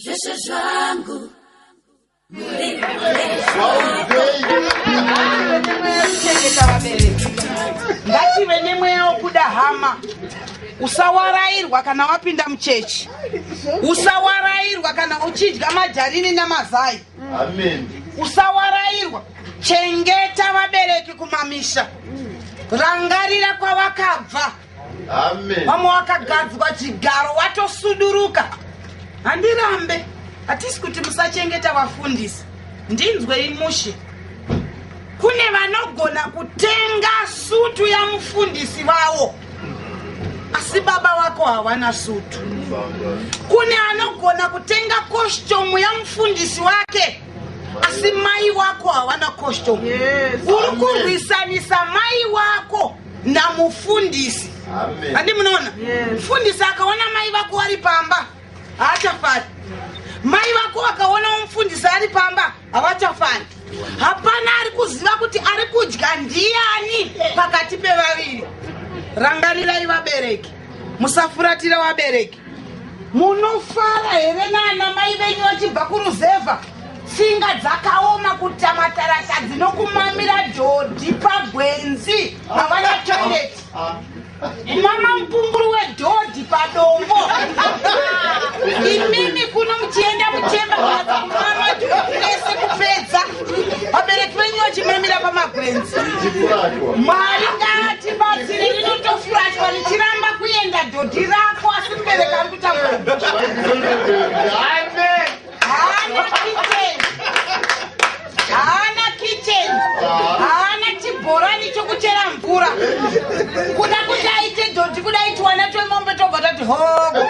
zvese zvangu ngative nemweya wokuda hama usawarairwa kana wapinda muchechi usawarairwa kana uchidya madharini namazai usawarairwa chengeta vabereki kumamisha rangarira kwavakabva vamwe wakagadzwa chigaro watosuduruka handirambe hatisi kuti musachengeta vafundisi ndinzwei mushe kune vanogona kutenga sutu yamufundisi vavo asi baba vako hawana sutu kune anogona kutenga kostomu yamufundisi wake asi mai wako hawana kostomu uri kurwisanisa mai wako namufundisi andi munoona mufundisi akaona mai vako vari pamba haachafari mai vako vakaona mufundisi ari pamba havachafari hapana ari kuziva kuti ari kudya ndiyani pakati pevaviri rangarirai vabereki musafuratira vabereki Munofara here nana mai venyu vachibva kuruzevha? Tsinga dzakaoma kuita mataratadzi nokumamira dhodhi pagwenzi havana toilet. Mama mupunguru wedhodhi padombo. Imimi kuno muchienda muchemba kana kumama dhodhi rese kupedza. vabereki venyu vachimamira pamagwenzi mwari ngatibatsire rinotofurachwa richiramba kuenda dhodhi rako asi mubereki ari kutambura haana kitchen haana chibhorani chokuchera mvura kuda kuti aite dhodhi kuda itiwana twemombe tobva tati hogo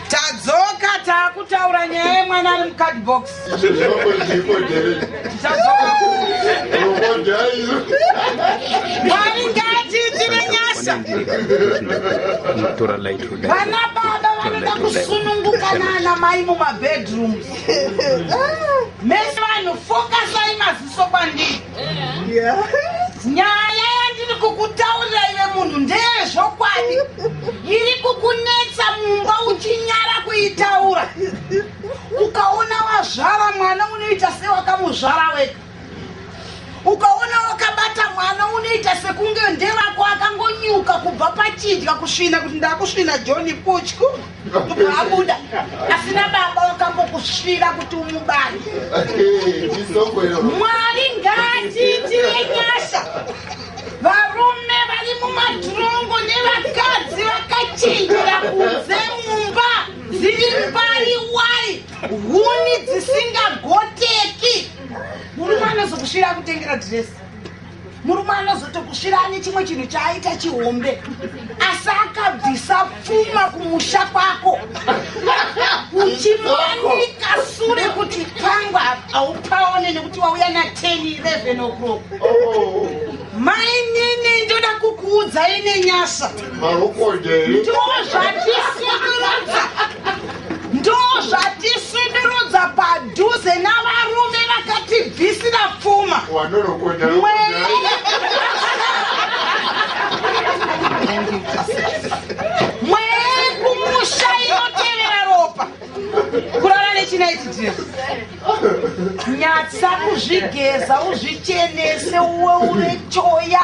tadzoka taakutaura nyaya yemwana ari mucardbox mwari ngaatiitire nyasha vana baba vanoda kusununguka naana mai mumabedrooms mese vanhu fokasai maziso kwandii nyaya yandiri kukutaurira ive munhu ndeyezvokwadi iri kukunetsa mumba uchinyara kuitaura ukaona wazvara mwana unoita sewakamuzvara wega ukaona wakabata mwana unoita sekunge ndevako akangonyuka kubva pachidya kusvina kuti ndakusvina johni kutyu kubva abuda asina baba wakambokusvira kuti umubari mwari ngaatiitire nyasha varume vari mumatirongo nevakadzi vakachinjira kunze mumba dziri mbari wai huni dzisingagoteki murume anozokusvira kutengera dhiresi murume anozotokusvira ane chimwe chinhu chaaita chihombe asi akabvisa pfuma kumusha kwako uchimanika sure kuti pangwa haupaone nekuti wauya na 10 11 o'clock mainini ndoda kukuudzai nenyasa ndozvatisikudza ndozvatisundurudza padhuze navarume vakatibvisira pfuma mwekumusha inotevera ropa kurara nechinaitidie nyatsa kuzvigeza uzvichenese uwe ure choya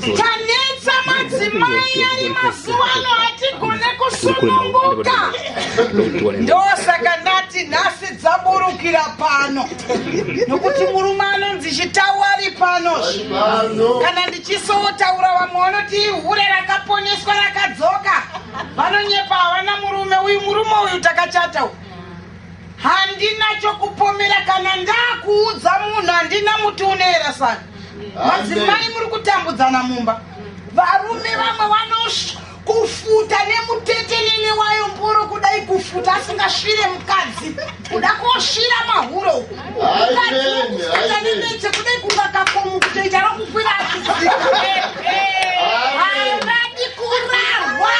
tanetsa madzimai ari mazuva ano hatigone kusununguka ndosaka ndati nhasi dzaburukira pano nokuti murume anonzi chitawo ari pano kana ndichisotaura vamwe vanoti ihure rakaponeswa rakadzoka vanonyepa havana murume uyu murume uyu takachata uyu handina chokupomera kana ndakuudza munhu handina muti unoera saka madzimai muri kutambudzana mumba varume vamwe vanosva kufuta nemutete nene wayo mboro kudai kufuta asingasvire mukadzi kuda kosvira mahuro ukadikufuta nenete kudai kungakakomu kutoita rokukwira achizii havadi kurarwa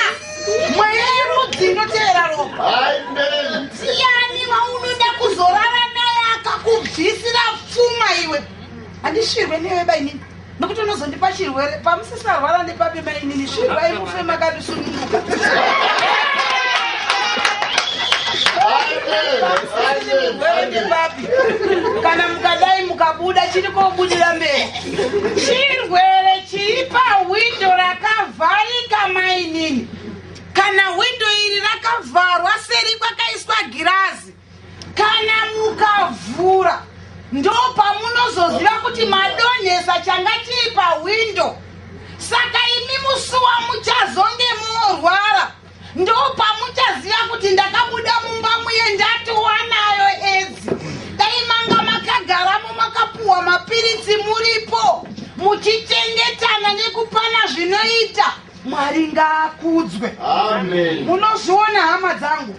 mweya yerudzi inotevera ropa ndiani waunoda kuzorara naye akakubvisira pfuma iwe handishirwe newe bainini nokuti unozondipa chirwere pamusisarwara nepapi mainini shirwai mufe makatisununguka Amen. Amen. Amen. kana mukadai mukabuda chiri kobudira mberi chirwere chiri pahwindo rakavharika mainini kana hwindo iri rakavharwa seri kwakaiswa girazi kana mukavhura ndo pamunozoziva kuti madonhesa changa chii pahwindo saka imi musuwa muchazonge morwara ndopamuchaziva kuti ndakabuda mumba muye ndati wanayo edzi dai manga makagaramo makapuwa mapiritsi muripo muchichengetana nekupana zvinoita mwari ngaakudzwe munozviona hama dzangu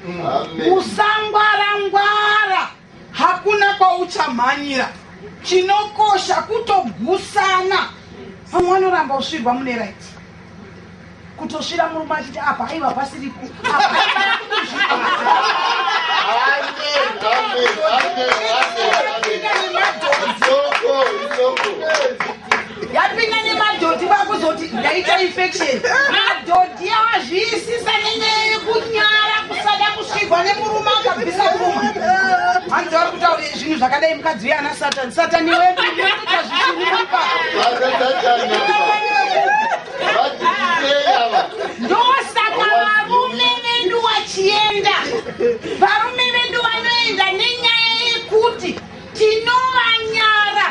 usangwarangwara Hakuna kwauchamhanyira chinokosha kutogusana vamwe vanoramba usvirwa mune right kutosvira murume achiti apa aiva pasiri yapinda nemadhodhi vakuzoti ndaita infection madhodhi awazviisisa nenyaya yekunyara kusada kusvigwa nemurume akabvisa kuruma hanzi vari kutaura zvinhu zvakadai mukadzi uye ana satani satani weduuta zvishurupa ndosaka varume vedu wachienda varume vedu vanoenda nenyaya yekuti Tinovanyara.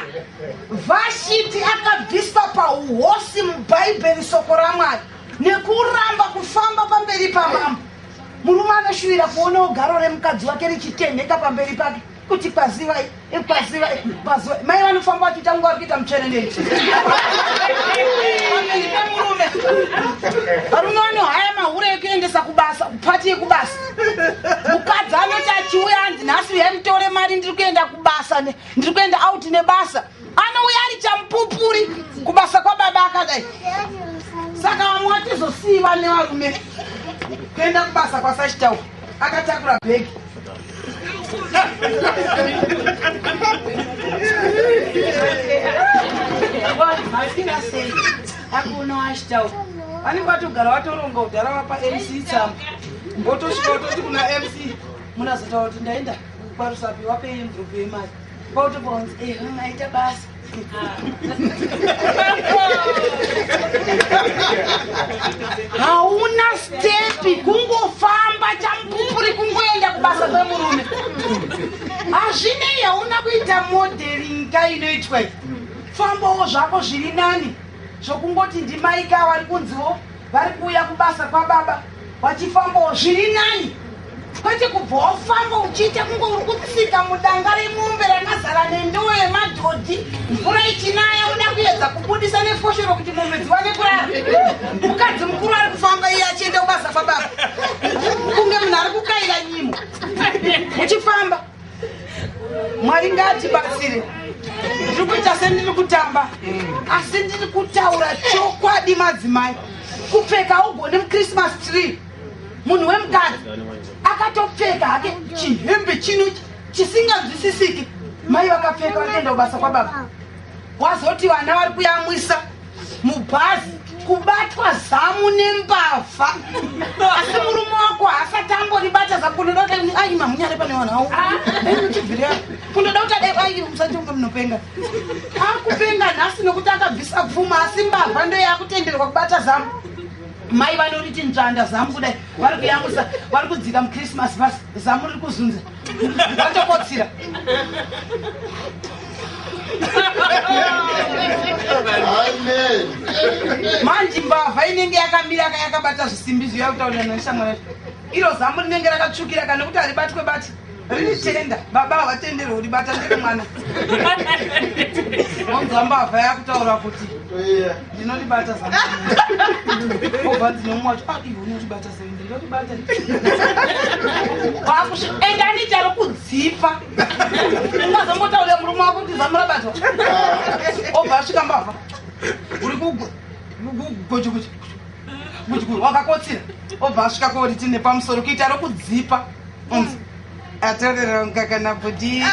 Vashiti akabviswa pauhosi mubhaibheri soko ramwari nekuramba kufamba pamberi pamambo. Murume anoshuvira kuonawo garo remukadzi wake richitenheka pamberi pake kuti kwazivai eh, kwazivai kwazivai mai vanofamba vachiita nguva vakuita mutsverenei varume vanohaya mahure ekuendesa kubasa kupfati yekubasa mukadzi anoti achiuya anzi nhasi uyai mutore mari ndiri kuenda kubasa ndiri kuenda out nebasa anouya ari chamupupuri kubasa kwababa akadai saka vamwe vatizosiiva nevarume kuenda kubasa kwasachitau akatakura bhegi akunoashitau vanenge vatogara vatoronga kudhara vapa mc tsamba Mbotosvika utoti kuna MC munazotaura kuti ndaenda kwarusapi wapei envelope yemari kwautopora kunzi eh maita basa hauna stepi kungofamba champupuri kungoenda kubasa kwemurume hazvinei hauna kuita modeling ka inoitwa famba wo zvako zviri nani zvokungoti ndimaika wari kunziwo vari kuuya kubasa kwababa vachifambawo zviri nani kwete kubva wafamba uchiita kunge uri kutsika mudanga remombe rakazara nendowo yemadhodhi mvura ichinaya uda kuyedza kubudisa nefoshoro kuti mombe dziwane kurara mukadzi mukuru ari kufamba iye achienda kubasa kwababa kunge munhu ari kukaira nyimo uchifamba mwari ngatibatsire ndiri kuita sendiri kutamba asi ndiri kutaura chokwadi madzimai kupfeka ugone muchristmas tree munhu wemukadzi akatopfeka hake chihembe chino chisinganzwisisiki mai vakapfeka vakaenda kubasa kwababa wazoti vana vari kuyamwisa mubhazi kubatwa zamu nembavha asi murume wako haasati amboribata zamu kunoda kuti ai mamunyare pane vanhu awo chibvira kunoda kuti adai ai musati unge munopenga akupenga nhasi nokuti akabvisa pfuma asi mbavha ndo yakutenderwa kubata zamu mai vanoriti nzvanda zamu kudai vari kuyamwisa vari kudzika muchristmas bas zamu riri kuzunza Watokotsira. Amen. Manje mbavha inenge yakamira ka yakabata zvisimbi zviya kutaurira neshamwari yacho. Iro zambo rinenge rakatsvukira kana kuti haribatwe bati. Riri tenda. Baba havatenderwe kuti bata ndiri mwana. Wonzwa mbavha yakutaura kuti Toiya. ndinolibata zambo. Obva dzinomwa kuti ah iwe unolibata zambo. endani charo kudzipa ungazongotaurira murume wako kuti zamura bato obva asvika mbavha uri kugojukuchi wakakotsira obva asvika kori tine pamusoro kuita rokudzipa atorerwa mukaka nabhudhi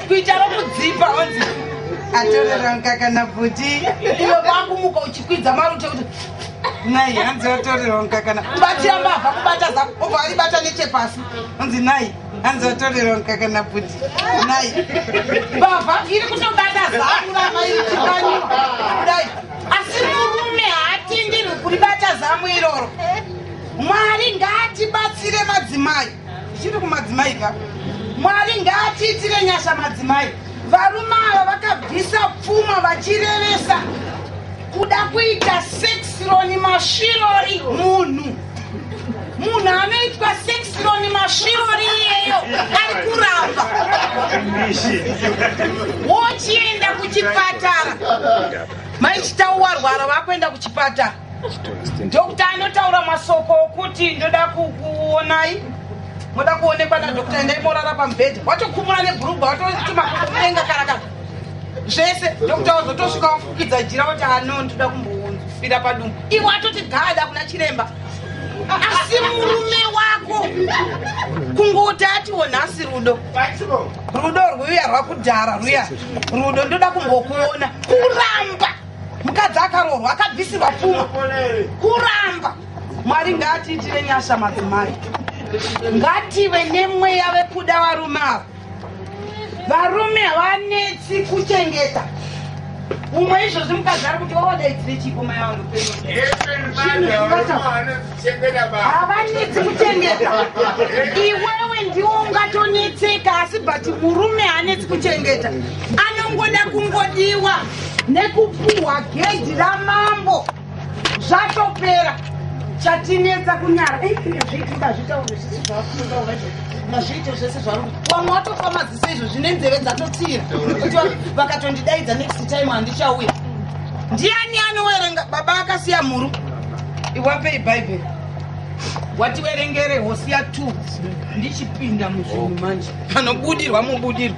kuita rokudzipa onzi atorerwa mukaka nabhudhi iwe vakumuka uchikwidza marute kuti nai hanzi watorerwa mukaka kubatira mbavha kubata zako obva aribata nechepasi onzi nai hanzi watorerwa mukaka nabhudhi nai mbavha iri kutobata zako ramairichikanyiwa kudai asi murume haatenderwe kuribata zamu iroro mwari ngaatibatsire madzimai zvichiri kumadzimai ka mwari ngaatiitire nyasha madzimai varume ava vakabvisa pfuma vachirevesa kuda kuita sexironi masvirori munhu munhu anoitwa sexloni masvirori iyeyo ari kuramba wochienda kuchipatara maichitauwarwara vakuenda kuchipatara dokta anotaura masoko okuti ndoda kukuonai moda kuonekwa nadokta endai morara pamubhedha watokumura nebhurugwa watotimakuenga karakara zvese dokta wazotosvika wafukidza jira kuti anondoda kumbounzufira padumbu iwe atoti gada kuna chiremba asi murume wako kungoti atiwo nhasi rudo rudo rwuya rwakudhara rwuya rudo ndoda kumbokuona kuramba mukadzi akaroorwa akabvisirwa pfuma kuramba mwari ngaatiitire nyasha madzimai ngative nemweya vekuda varume ava varume havanetsi kuchengeta umwe izvozvi mukadzi ari kuti wawadaidzire chipo mai vangu havanetsi kuchengeta iwewe ndiwo ungatonetseka asi but murume haanetsi kuchengeta anongoda kungodiwa nekupuhwa gedhi ramambo zvatopera chatinetsa kunyara zviitika zvitaure zvisi zvakuaa mazviito zvese zvaru wamwe watofa maziso izvo zvine nzeve dzatotsira vakatondidaidza next time handichauya ndiani anowerenga baba akasiya mhuru iwapei bhaibheri wativerengere hosiya t ndichipinda muzvinhu manje panobudirwa mubudirwa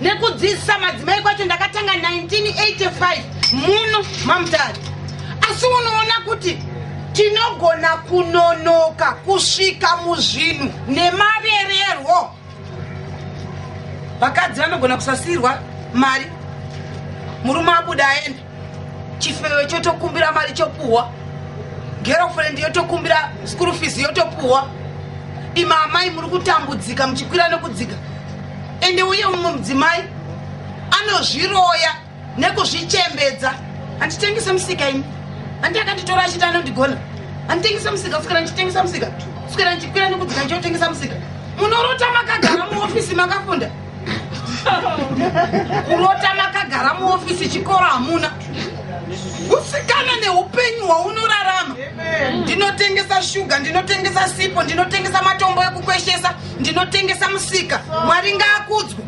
nekudzidzisa madzimai kwacho ndakatanga 1985 muno mamutari asi unoona kuti tinogona kunonoka kusvika muzvinhu nemavererwo vakadzi vanogona kusasiirwa mari murume abuda aenda chifewe chotokumbira mari chopuhwa girlfriend yotokumbira school fees yotopuhwa ima amai muri kutambudzika muchikwira nekudzika ende uye mumwe mudzimai anozviroya nekuzvichembedza handitengese musika ini handi akanditora achiti anondigona handitengese musika kuswera ndichitengesa musika kuswera ndichikwira nekudzika ndichotengesa musika munorota makagara muofisi makafunda kurota makagara muofisi chikoro hamuna kusikana neupenyu hwaunorarama ndinotengesa shuga ndinotengesa sipo ndinotengesa matombo ekukweshesa ndinotengesa musika mwari ngaakudzwa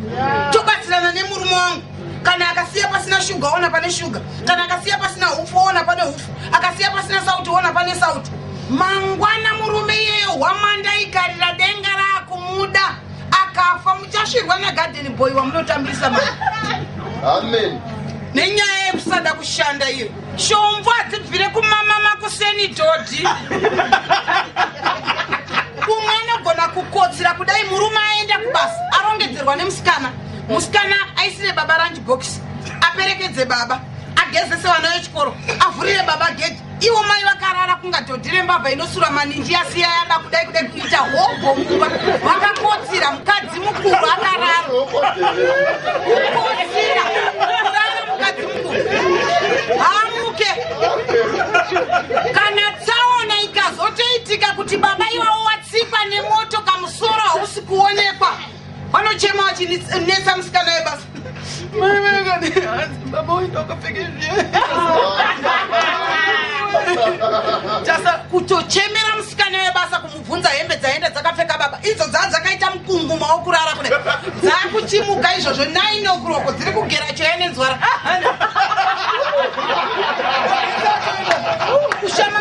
tobatsirana nemurume wangu kana akasiya pasina shuga ona pane shuga kana akasiya pasina hupfu ona pane hupfu akasiya pasina sauti ona pane sauti mangwana murume iyeyo hwamanda ikarira denga rakumuda akafa muchasvirwa nagarden boy wamunotambisa ma amen nenyaya yekusada kushanda iyo shombo hadzibvire kumama makuseni dhodhi umwe anogona kukotsira kudai murume aenda kubasa arongedzerwa nemusikana musikana aisire baba ranji bhokisi aperekedze baba agezese vana vechikoro avhurire baba gedhi iwo mai vakarara kunga dhodhi rembavha inosura maninji yasiya yada kudai kudai kuita hobho mumba vakakotsira mukadzi mukuru akarara kukotsira kurara mukadzi mukuru hamuke kana tsaona ikazotoitika kuti baba iwawo watsikwa nemoto kamusoro hausi kuonekwa vanochema vachinetsa musikana webasa baba uenda ukapfeke zviyetasa kutochemera musikana webasa kumubvunza hembe dzaenda dzakapfeka baba idzo dzaa dzakaita mukunguma wokurara kuda dzaakuchimuka izvozvo naine okuroko dziri kugera choya nenzwara kushama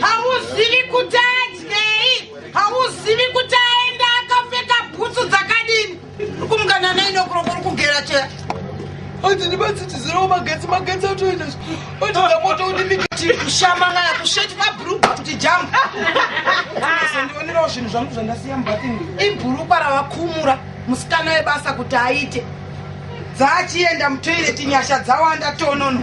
hauzivi kuti adyei hauzivi kuti aenda akapfeka bhutsu dzakadini kumukana nainokuroko uri kugera cheya hanzi ndibatsitizirawo magetsi magetsi atoenda otiza moto unimikati kushamangana kusheti mabhurugwa kuti jamu ndionerawo zvinhu zvangu zvandasiya mubatini ibhurukwa ravakumura musikana webasa kuti aite dzaachienda mutoireti nyasha dzawanda tonono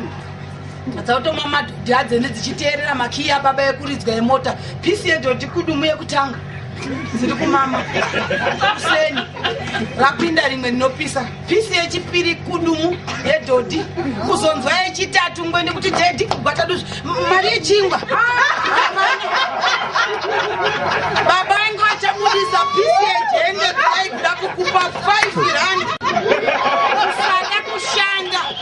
dzautomwa madhodhi adzene dzichiteerera makiyi ababa ekuridzwa emota pisi yedhodhi kudumu yekutanga dziri kumama kuseni rapinda rimwe rinopisa pisi yechipiri kudumu yedhodhi kuzonzwa yechitatu ngwe nekuti dhedhi kugwataduzvi mari yechingwa baba ange vachamudisa pisi yejende kudai kuda kukupa 5 rand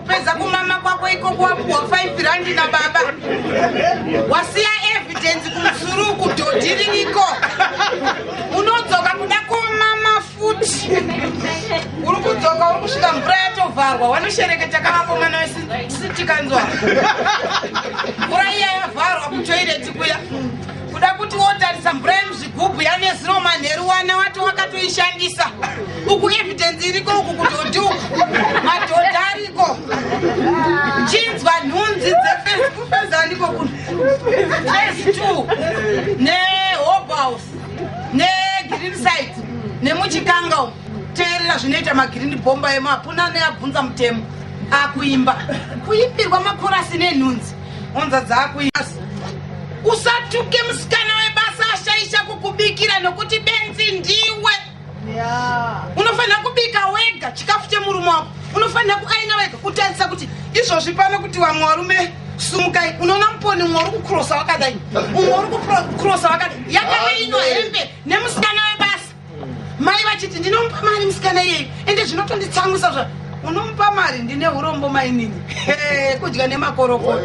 Kupedza kumama kwako ikoko wapuwa 5 randi nababa. Wasiya evidence kumsuru uku dhodhi ririko. Unodzoka kuda komama futi. Uri kudzoka uri kusvika mvura yatovharwa wanoshereketa kavako mwana wesitikanzwa. Mvura iya yavharwa kutoireti kuya. Kuda kuti wotarisa mvura yemuzvi kubhuya nezuro manheru wana wato wakatoishandisa uku evidence iriko uku kudhodhi uku madhodhi ariko chinzwa nhunzi dzefesi kufeza ndiko kuno fesi two nehobhouse negreen side nemuchikanga umu teerera zvinoita magirini bhomba emo hapuna neabvunza mutemo akuimba kuimbirwa makorasi nenhunzi honza dzakuias usatuke musikana webasa ashaisha kukubikira nokuti benzi ndiwe unofanira kubika wega chikafu chemurume wako unofanira kuaina wega kutarisa kuti izvozvi pano kuti vamwe varume sumukai unoona muponi umwe uri kukrosa wakadai umwe uri kukrosa wakadai yakainwa hembe nemusikana webasa mai vachiti ndinomupa mari musikana iyeyi ende zvinotonditsamwisa zva unomupa mari ndine urombo mainini kudya nemakorokoto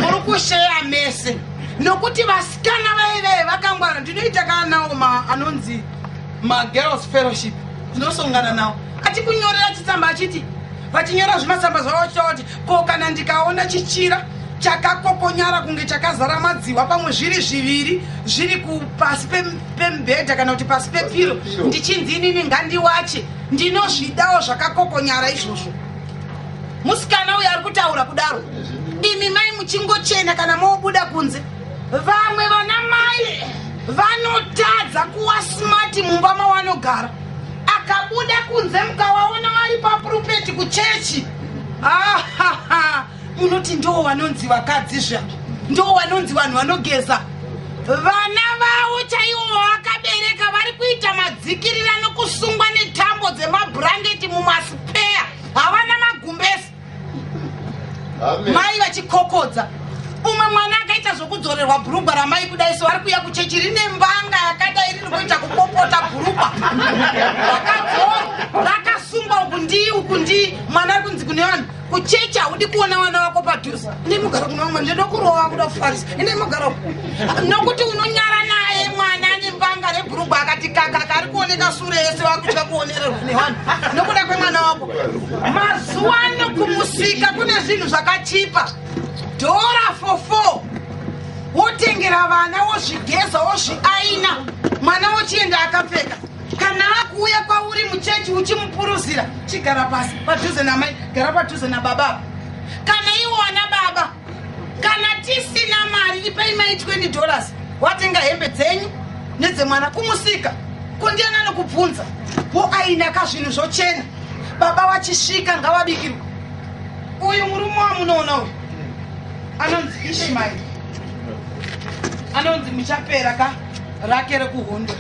muri kusheya mese nokuti vasikana vaivee vakangwara ndinoita kana nawo ma anonzi magirls fellowship ndinosongana nawo achikunyorera chitsamba achiti vachinyora zvimatsamba zvavo vachitaura kuti ko kana ndikaona chichira chakakokonyara kunge chakazara madziwa pamwe zviri zviviri zviri kupasi pemubhedha kana kuti pasi pepiro ndichinzi inini ngandiwache ndinozvidawo zvakakokonyara izvozvo musikana uyo ari kutaura kudaro imi mai muchingochena kana mobuda kunze vamwe vana mai vanotadza kuwa smati mumba mawanogara akabuda kunze mukawaona vari papurupeti kuchechi ahaha ah, munoti ndoo vanonzi vakadzi zva ndoo vanonzi vanhu vanogeza vana vavo chaivo vavakabereka vari kuita madzikirira nokusungwa netambo dzemabhurangeti mumasipeya havana magumbesi mai vachikokodza umwe mwana akaita zvokudzorerwa bhurugwa ramai kudai so ari kuya kuchechi rine mbanga yakadai riri kuita kupopota bhurugwa rakadzora rakasungwa uku ndii uku ndii mwana ari kunzi kune vanhu kuchechi haudi kuona vana vako padhuze ine mugara kuna umwe ndoda kurova kuda kufarisa ine mugara nokuti unonyara naye mwana ane mbanga rebhurugwa akati kakaka ari kuoneka sure yese vakutya kuonererwa nevanhu nokuda kwemwana wako mazuva ano kumusika kune zvinhu zvakachipa dhora for four wotengera vana wozvigeza wozviaina mwana wochienda akapfeka kana akuuya kwauri muchechi uchimupuruzira chigara pasi padhuze namai gara padhuze nababa kana iwo ana baba kana tisina mari ipei mai 20 dollars watenga hembe dzenyu nedzemwana kumusika kundiana anokubvunza wo aina ka zvinhu zvochena baba vachisvika ngavabikirwa uyu murume wamunoona uyu anonzi ishimairi anonzi muchapera ka rake rekuhondo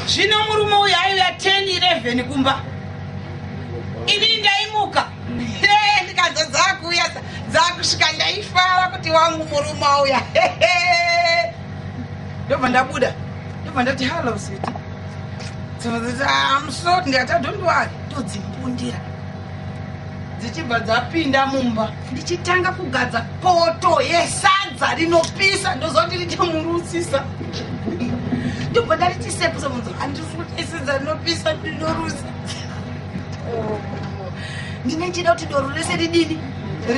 zvino murume uyu aiuya 10 11 kumba ini ndaimuka ndikanza dzakuuya dzakusvika ndaifara kuti wangu murume auya ndobva ndabuda ndobva ndati hallo siti amsot ndikati adondiwari todzimbundira dzichibva dzapinda mumba ndichitanga kugadza poto yesadza rinopisa ndozoti richamurusisa ndobva ndarichisepusa munzo andirutaisadza rinopisa ndinorusa oh. ndine ndichida kuti doro rese ridini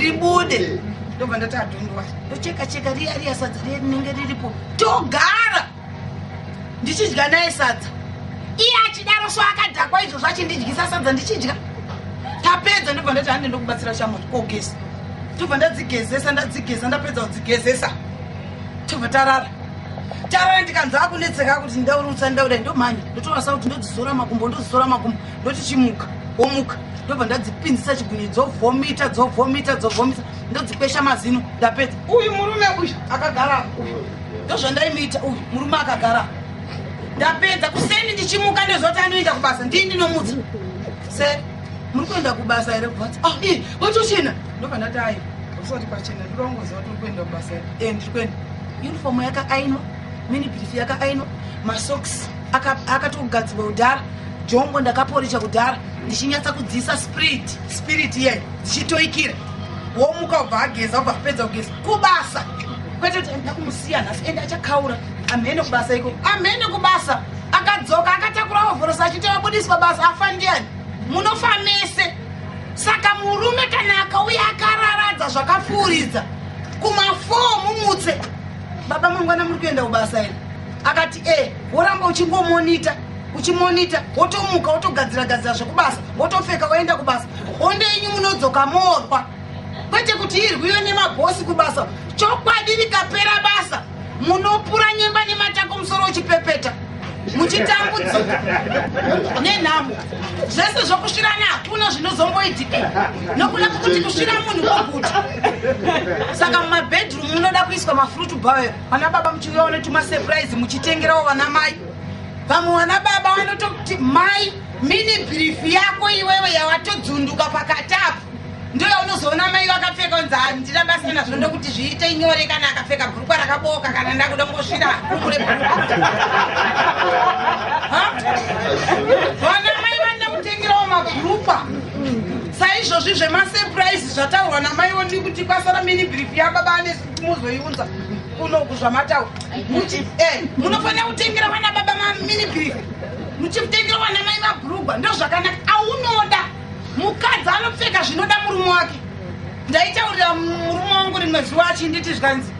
ribude ndobva ndati adhondwa ndocheka cheka riya riya sadza riya rinenge riripo togara ndichidya naye sadza iye achidaro so akadhakwa izvozvo achindidyisa sadza ndichidya tapedza ndobva ndati hande ndokubatsira shamot kogeza tobva ndadzigezesa ndadzigeza ndapedza kudzigezesa tobva tarara tarara ndikanzwa akunetseka kuti ndaurutsa ndauda ndomhanya ndotorasa kuti ndodzizora makumbo ndodzizora makumbo ndoti chimuka womuka ndobva ndadzipinzisa chigunye dzovhomita dzovhomita dzovhomita ndodzikwesha mazino ndapedza uyu murume uyu akagara uyu ndozvandaimuita uyu murume akagara ndapedza kuseni ndichimuka ndozoti anoenda kubasa ndii ndinomudza se muri kuenda kubasa here kuvati ah, i watochena ndobva ndati ayi usati kwachena ndirongoziva kuti uri kuenda kubasa here e ndiri kuenda unifomu yakaainwa mini birifi yakaainwa masoks akatogadzirwa aka kudhara jongo ndakaporisha kudhara ndichinyatsa kudziisa spirit spirit iyayo dzichitoikira womuka ubva ageza ubva apedza kugeza kubasa kwete kuti ndida kumusiya nhasi ende achakaura amhene kubasa iko amhene kubasa akadzoka akatakura hovhorosa achiti abudiswa basa afa ndiani munofa mese saka murume kana akauya akararadza zvakapfuuridza kumafoo mumutse baba mangwana muri kuenda kubasa iri akati e woramba uchingomonita uchimonita wotomuka wotogadzira gadzira zvekubasa wotopfeka woenda kubasa honde yenyu munodzoka morwa kwete kuti irwiwe nemabhosi kubasa chokwadi rikapera basa munopura nyemba nematako musoro uchipepeta muchitambudzika nenhamo zvese zvokusvirana hakuna zvinozomboitika nokuda kwokuti kusvira munhu kwokuti saka mumabedroom munoda kuiswa mafruit bawe vana baba muchiuyawo netumasurprise muchitengerawo vana mai vamwe vana baba vanotokuti mai mini brief yako iwewe yawatodzunduka pakati apo ndiyo unozoona mai vakapfeka unzi handina basa nazvo ndokuti zviite nyore kana akapfeka bhurukwa rakabooka kana ndakuda kungosvira kumure vana mai vanoda kutengerawo mabhurukwa saizvozvi zvemasepuraizi zvataurwa namai woni kuti kwasara mini brief yababa ane muzoiunza kunoku zvamataura muti e eh, munofanira kutengera vana baba mamini brief muchimutengera vana mai mabhurugwa ndozvakanaka aunoda mukadzi anopfeka zvinoda murume wake ndaitaurira murume wangu rimwe zuva achinditi zvanzi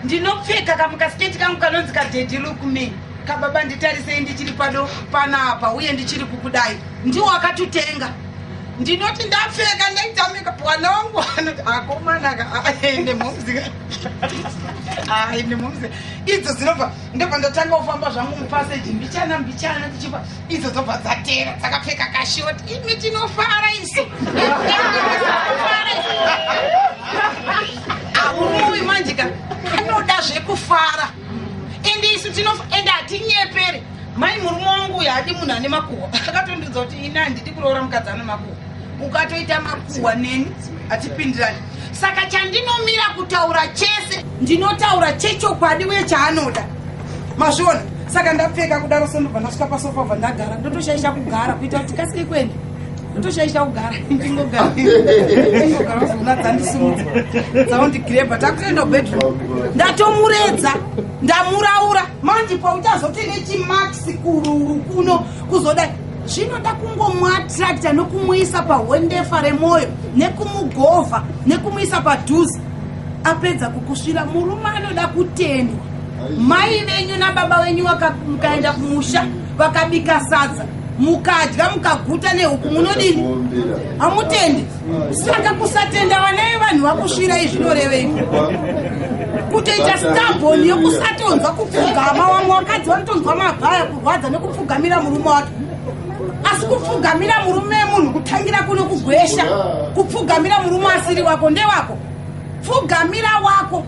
ndinopfeka kamukasiketi kangu kanonzi kadhedhi look me kababa nditarisei ndichiri pado panapa uye ndichiri kukudai ndiwo akatutenga ndinoti ndapfeka ndaitamika pwana wangu anoti akomanaka aende momzika aende momzika idzo dzinobva ndobva ndatanga kufamba zvangu mupaseji mbichana mbichana tichipa idzo dzobva dzatera dzakapfeka kashot imi tinofara isu aunoi manjika anoda zvekufara ende isu ende hatinyepere mai murume wangu uyo hadi munhu ane makuhwa akatondiudza kuti ini handidi kuroora mukadzi ane makuhwa ukatoita makuhwa neni hatipindirani saka chandinomira kutaura chese ndinotaura chechokwadi uye chaanoda masvona saka ndapfeka kudaro so ndobva ndasvika pasofa bva ndagara ndotoshaisha kugara kuita kuti kasike kuenda ndotoshaisha kugara ndingogaringogara zona dzandisimudza dzaundigireba takutoenda kubedroom ndatomuredza ndamuraura manje pautazoti nechimax kururu kuno kuzoda zvinoda kungomuattracta nokumuisa pahwendefa remwoyo nekumugovha nekumuisa padhuze apedza kukusvira murume anoda kutendwa mai venyu nababa venyu mukaenda kumusha vakabika sadza mukadya mukaguta nehuku munodini hamutendi saka kusatenda vana vevanhu vakusvirai zvinorevei kutoita staboni yekusatonzwa kupfugama wamwe wakadzi vanotonzwa mabhaya kurwadza nekupfugamira murume wake asi kupfugamira murume munhu kutangira kuno kugwesha kupfugamira murume asiri wako ndewako pfugamira wako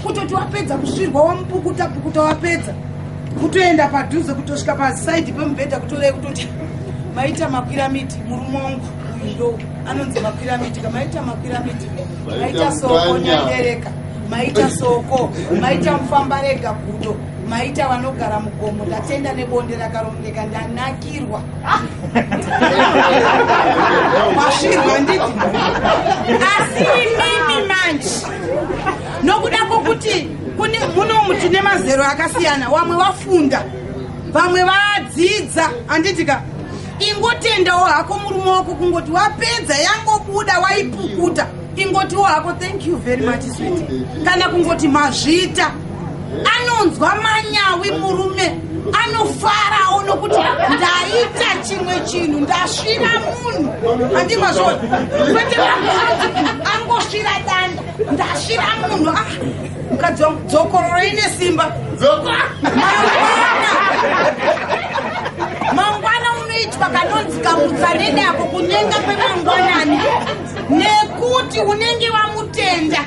kutoti wapedza kusvirwa wamupukuta pukuta wapedza kutoenda padhuze kutosvika pasaidi pemubhedha kutorei kutoti maita makwiramiti murume wangu ndo anonzi makwiramiti kamaita makwiramiti maita soko nyandereka maita soko maita mufamba rega gudo maita vanogara mugomo ndatenda nebonde rakarongeka ndanakirwa wasvirwa ndii asi imimi manje nokuda kwokuti kune muno muti nemazero akasiyana wamwe wafunda vamwe vadzidza anditika ingotendawo hako murume wako kungoti wapedza yangobuda waipukuta ingotiwo hako thank you very much sweet kana kungoti mazvita anonzwa manyawi murume anofarawo nokuti ndaita chimwe chinhu ndasvira munhu andimazvona kwete angosvira danda ndasvira munhu ah, mukadzi wangu dzokororo ine simba mangwana unoitwa kanonzi kamutsanene ako kunyenga kwemangwanani nekuti unenge wamutenda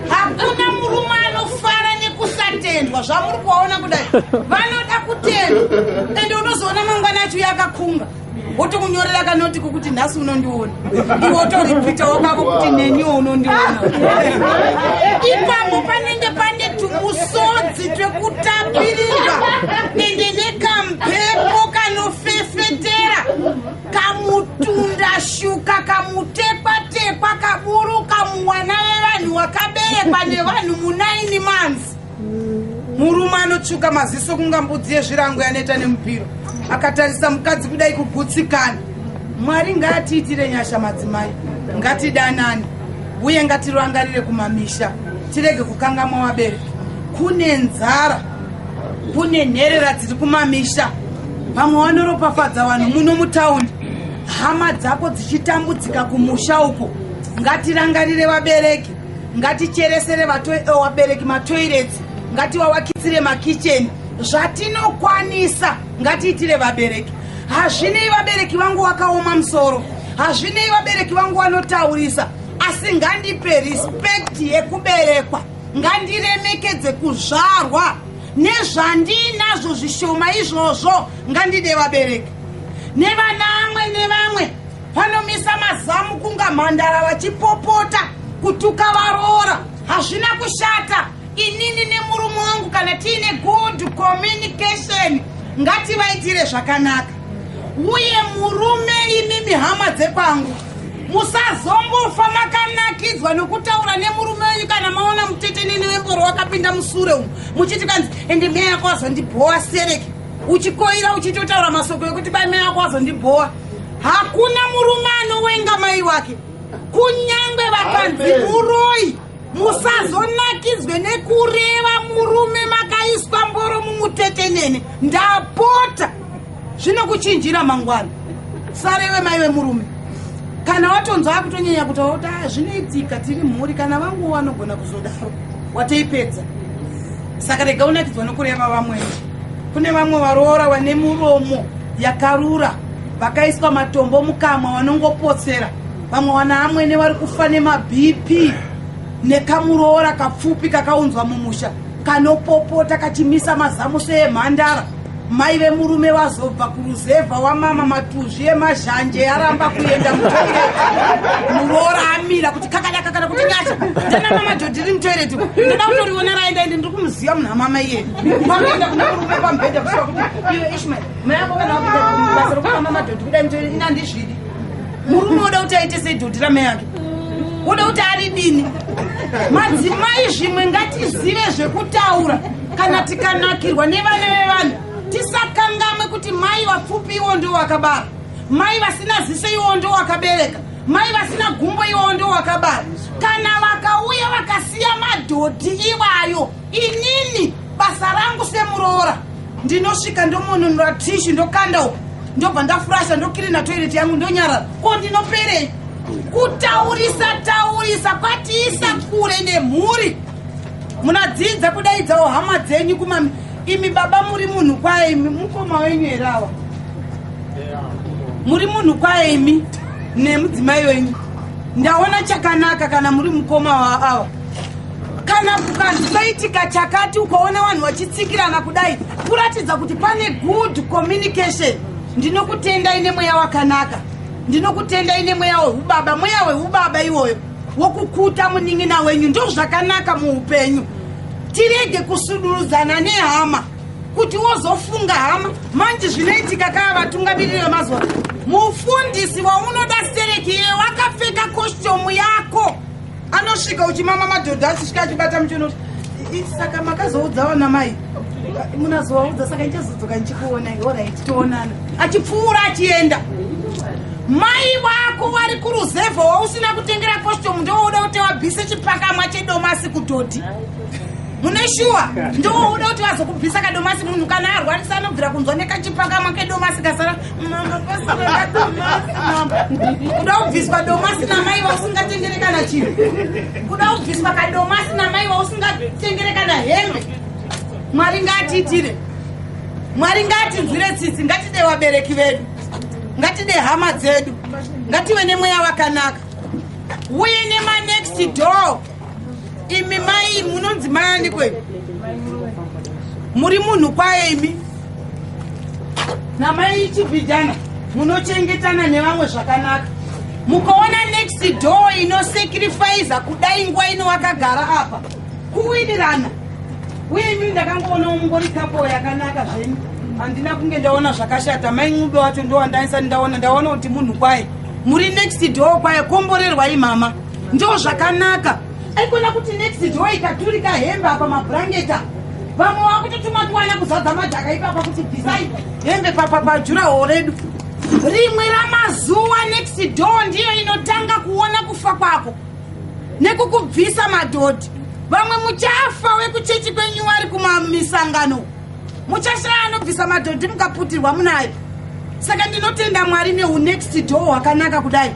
hakuna murume anofara nekusatendwa zvamuri kuvaona kudai vanoda kutendwa ende unozoona mangwana acho yakakunga wotokunyorera kanoti kokuti nhasi unondiona iwe utoripita wakako kuti neniwo unondiona ipapo panenge pane tumusodzi twekutapirirwa ende nekamhepo kanofefetera kamutunda shuka kamutekwa tekwa kaburu kamuwana vevanhu wakaberekwa nevanhu munaini manzi murume anotsvuka maziso kunga mbudzi yezvirango yaneta nemupiro akatarisa mukadzi kudai kugutsikana mwari ngaatiitire nyasha madzimai ngatidanani uye ngatirangarire kumamisha tirege kukangamwa wabereki kune nzara kune nherera dziri kumamisha vamwe wanoropafadza vanhu muno mutaundi hama dzako dzichitambudzika kumusha uko ngatirangarire vabereki ngaticheresere eh, vabereki matoirets ngativavakitsire makicheni zvatinokwanisa ngatiitire vabereki hazvinei vabereki vangu vakaoma musoro hazvinei vabereki vangu vanotaurisa asi ngandipe respect yekuberekwa ngandiremekedze kuzvarwa nezvandiinazvo zvishoma izvozvo ngandide vabereki nevana amwe nevamwe vanomisa mazamu kunga mhandara vachipopota kutuka varoora hazvina kushata inini nemurume wangu kana tiine good communication ngativaitire zvakanaka uye murume imimi hama dzekwangu musazongofa makanakidzwa nokutaura nemurume wenyu kana maona mutetenene wemboro wakapinda musure umu muchiti kanzi ende meya yako wazondibhowa sereke uchikoira uchitotaura masoko ekuti bai meya yako wazondibhowa hakuna murume anowenga mai wake kunyange vakanzi muroi musazonakidzwe nekureva murume makaiswa mboro mumutetenene ndapota zvinokuchinjira mangwana sarewe mai vemurume kana watonzwa akutonyanya kuti waota ah, zvinoitika tiri mhuri kana vangu vanogona kuzodaro watoipedza saka rega unakidzwa nokureva vamwe kune vamwe varoora vane muromo yakarura vakaiswa matombo mukamwa vanongopotsera vamwe wana amwene vari kufa nemabp nekamuroora kapfupi kakaunzwa mumusha kanopopota kachimisa mazamu seemhandara mai vemurume vazobva kuruzevha wamama matuzvi emazhanje aramba kuenda mutoireti muroora amira kuti kakadaka kana kuti nyasha tana mama jodhiri mutoireti ndoda kutoriona raenda ende ndiri kumuziva munhu amama iye panoenda kuna murume pamubhedha kusvika kuti iwe ishmael mai ako kana wakuda basa rokuamama jodhi kudai mutoireti inandizvidi murume woda kuti aite sedhodhi ramai ake woda kuti ari dini madzimai zvimwe ngatizive zvekutaura kana tikanakirwa nevana vevanhu tisakangamwe kuti mai vapfupi iwo ndo wakabara mai vasina ziso iwo ndo wakabereka mai vasina gumbo iwo ndo wakabara kana vakauya vakasiya madhodhi iwayo inini basa rangu semuroora ndinosvika ndomononora tishu ndokanda uku ndobva ndafurasha ndokirina toireti yangu ndonyarara ko ndinoperei kutaurisa taurisa kwatiisa kure nemhuri munadzidza kudaidzawo hama dzenyu kumami imi baba muri munhu kwaye imi mukoma wenyu here awa muri munhu kwaye imi nemudzimai wenyu ndaona chakanaka kana muri mukoma waawa kana kukanzi paitika chakati ukaona vanhu vachitsikirana kudai kuratidza kuti pane good communication ndinokutendai nemweya wakanaka ndinokutendai nemweya wehubaba mweya wehubaba iwoyo wokukuta munin'ina wenyu ndozvakanaka muupenyu tirege kusudurudzana nehama kuti wozofunga hama manje zvinoitika kaa vatungamiriri vemazuva mufundisi waunoda stereki iye wakapfeka kositomu yako anosvika uchimama madhodha achisvika achibata muchiona kuti saka makazoudzawo namai munazovaudza saka ndichazodzoka ndichikuona orit toonana achipfuura achienda mai vako vari kuruzevha wausina kutengera costume ndowouda kuti wabvise chipakamwa chedomasi kudhodhi mune shuwa ndowouda kuti vazokubvisa kadomasi munhu kana arwarisa anobvira kunzwa nekachipakamwa kedomasi kasara Mama, pasi kuenda domasi, mama. Kuda kubviswa domasi namai vausingachenjere kana chinhu. Kuda kubviswa kadomasi namai vausingachenjere kana hembe. Mwari ngaatiitire. Mwari ngaatinzwire tsitsi, ngatide vabereki vedu. Ngatide hama dzedu. Ngative nemweya wakanaka. Uye nema next door. imi mai munonzi mai aniko imi muri munhu kwaye imi namai chibhijana munochengetana nevamwe zvakanaka mukaona next door inosacrifiza kudai nguva ino wakagara apa kuwirirana uye imi ndakangoona mungori kapo yakanaka zvenyu handina kunge ndaona zvakashata mai ncube wacho ndowandaisati ndaona ndaona kuti munhu kwaye muri next door kwaye komborerwai mama ndo zvakanaka aikona kuti next door ikaturika hembe apa mabrangeta vamwe vakutotuma tiwana kuzadza madhaka ipapa kuti bvisai hembe papa pajura ho redu rimwe ramazuva next door ndiyo inotanga kuona kufa kwako nekukubvisa madhodhi vamwe muchafa wekuchechi kwenyu wari kumamisangano muchashaya anobvisa madhodhi mukaputirwa munayo saka ndinotenda mwari neunext door hwakanaka kudai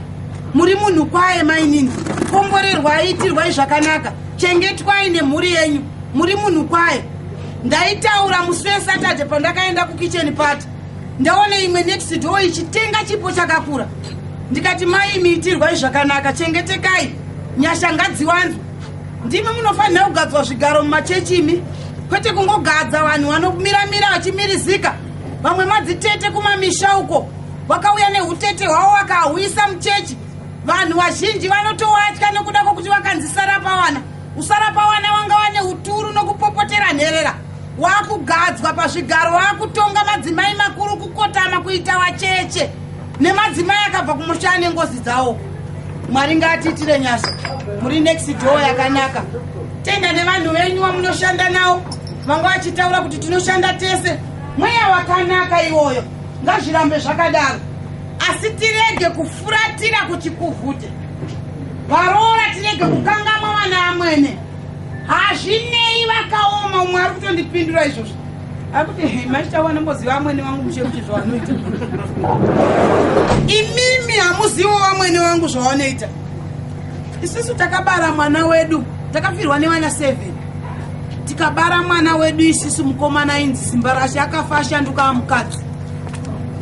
muri munhu kwaye mainini komborerwai itirwai zvakanaka chengetwai nemhuri yenyu muri munhu kwaye ndaitaura musi wesatade pandakaenda kukicheni pati ndaone imwe next door ichitenga chipo chakakura ndikati mai miitirwai zvakanaka chengetekai nyasha ngadziwanzwa ndimi munofanira kugadzwa zvigaro mumachechi imi kwete kungogadza vanhu vanomiramira vachimirizika vamwe madzitete kumamisha uko vakauya neutete hwavo vakahuyisa muchechi vanhu vazhinji vanotowatya nekuda kwokuti vakanzi sarapawana usarapawana wanga wane uturu nokupopotera nherera wakugadzwa pazvigaro wakutonga madzimai makuru kukotama kuita wacheche nemadzimai akabva kumusha ane ngozi dzawo mwari ngaatiitire nyasha muri next door yakanaka tenda nevanhu venyu vamunoshanda nawo vanga vachitaura kuti tinoshanda tese mweya wakanaka iwoyo ngazvirambe zvakadaro asi tirege kufuratira kuchikuvhute varoora tirege kukangamwa vana amwene hazvinei vakaoma umwe ari kutondipindura izvozvo akuti hey machitawo anomboziva amwene wangu mushe kuti zvawanoita imimi hamuzivo wamwene wangu zvawanoita isisu takabara mwana wedu takafirwa nevana seven tikabara mwana wedu isisu mukomana inzi simba rashe akafa ashanduka amukadzi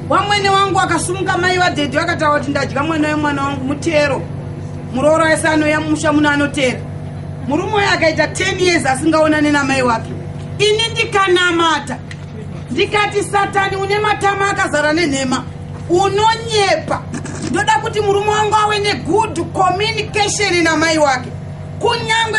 wamwene wangu akasumuka mai vadhedhi vakataura kuti ndadya mwana wemwana wangu mutero muroora ese anoya mumusha muno anotera murume uyo akaita 10 years asingaonane namai wake ini ndikanamata ndikati satani une matama akazara nenhema unonyepa ndoda kuti murume wangu awe negood communication namai wake kunyange